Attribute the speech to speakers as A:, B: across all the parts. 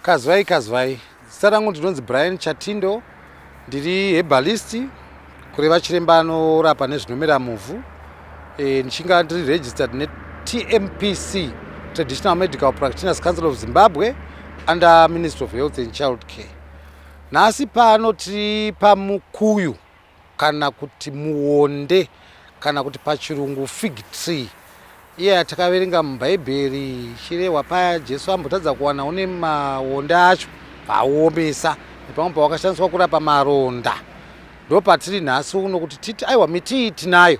A: kazvai kazvai zita rangu ndinonzi brian chatindo ndiri hebalist kureva chiremba anorapa nezvinomera muvhu e, ndichinga ndiri registered netmpc traditional medical practitioners council of zimbabwe under ministry of health and child care Nhasi pano tiri pamukuyu kana kuti muonde kana kuti pachirungu fig tree iye yeah, yatakaverenga mubhaibheri ichirehwa paya jesu ambotadza kuwana une maonde acho vauomesa nepamwe pawakashandiswa kurapa maronda ndo patiri nhasi uno kuti titi aiwa miti iyi tinayo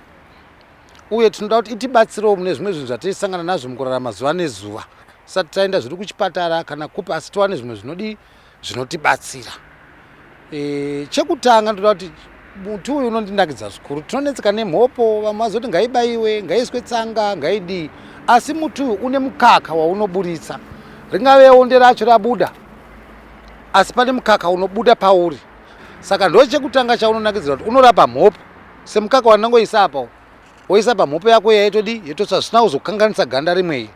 A: uye tinoda kuti itibatsirewo mune zvimwe zvinhu zvatiisangana nazvo mukurarama zuva nezuva sati taenda zviri kuchipatara kana kupi asi tiwane zvimwe zvinodii zvinotibatsira e, chekutanga ndoda kuti muti uyu unondinakidza zvikuru tinonetseka nemhopo vamwe vazoti ngaibaiwe ngaiiswe tsanga ngaidii asi muti uyu une mukaka waunoburitsa ringave onde racho rabuda asi pane mukaka unobuda pauri saka ndo chekutanga chaunonakidzira kuti unorapa mhopo semukaka wandangoisa apa woisa pamhopo yako yaitodi yetosa zvisina kuzokanganisa ganda rimwei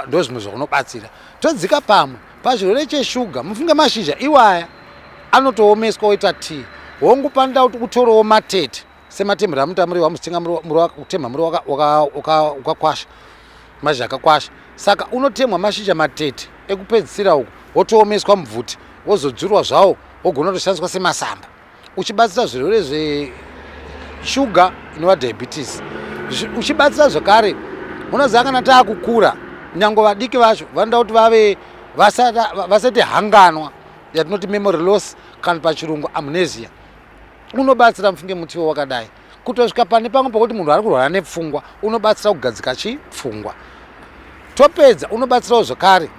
A: ndozvimwe zvakunobatsira todzika pamwe pachirwere cheshuga mufunge mashizha iwaya anotoomeswa oita tii hongu panoda kuti utorewo matete sematemhero amunoita muri wamuchitenga kutemha muri wakakwasha mashizha akakwasha saka unotemhwa mashizha matete ekupedzisira uku wotoomeswa mubvuti wozodzurwa zvawo wogona kutoshandiswa semasamba uchibatsira zvirwere zveshuga inova diabetes uchibatsira zvekare unoziva kana taakukura nyange vadiki vacho vanoda kuti vave vasati hanganwa yatinoti memory loss kana pachirungu amnesia unobatsira mufunge mutiwo wakadai kutosvika pane pamwe pokuti munhu ari kurwara nepfungwa unobatsira kugadzika chipfungwa topedza unobatsirawo zvekare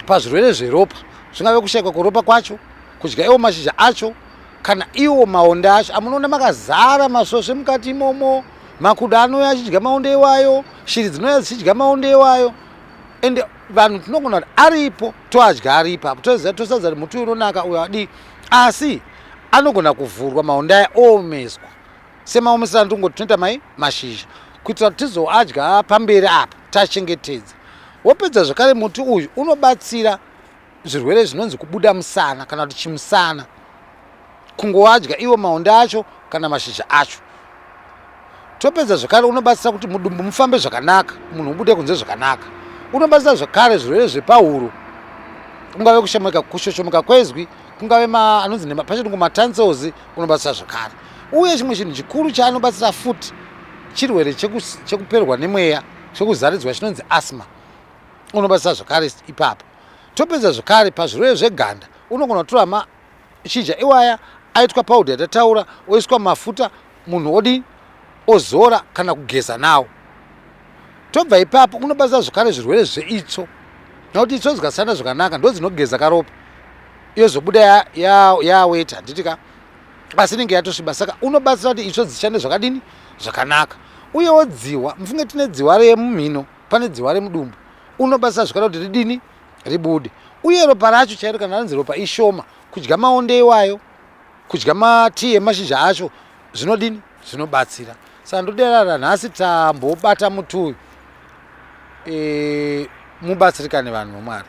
A: pazvirwere zveropa zvingave kushaikwa kweropa kwacho kudya iwo mashizha acho kana iwo maonde acho amunoona makazara masvosve mukati imomo makuda anouya achidya maonde iwayo shiri dzinouya dzichidya maonde iwayo ende vanhu tinogona kuti aripo toadya aripo apo toziva tosadza kuti muti uyu unonaka uyo adii asi anogona kuvhurwa maonde aya oomeswa semaomesera ndingoti tinoita mai mashizha kuitira kuti tizoadya pamberi apa tachengetedza wopedza zvekare muti uyu unobatsira zvirwere zvinonzi kubuda musana kana kuti chimusana kungowadya iwo maonde acho kana mashizha acho topedza zvekare unobatsira kuti mudumbu mufambe zvakanaka munhu ubude kunze zvakanaka unobatsira zvekare zvirwere zvepahuro kungave kushomoka kushoshomeka kwezwi kungave anonzi nepachirungu matansels unobatsira zvekare uye chimwe chinhu chikuru chaanobatsira futi chirwere chekuperwa nemweya chekuzaridzwa chinonzi asma unobatsira zvekare ipapo Topedza zvekare pazvirwere zveganda unogona kutora mashizha iwaya aitwa paudhi yatataura oiswa mafuta munhu odii ozora kana kugeza nawo tobva ipapo unobatsira zvekare zvirwere zveitsvo nokuti itsvo dzikasana zvakanaka ndo dzinogeza karopa yozobuda yaweta handiti ka asi inenge yatosviba saka unobatsira kuti itsvo dzishande zvakadini zvakanaka uyewo dzihwa mufunge tine dzihwa remumhino pane dzihwa remudumbu unobasa zvikara kuti ridini ribude uye ropa racho chairo kana ranzi ropa ishoma kudya maonde iwayo kudya matii emashizha acho zvinodini zvinobatsira saka ndoderara nhasi tambobata muti uyu e, mubatsirikane vanhu vamwari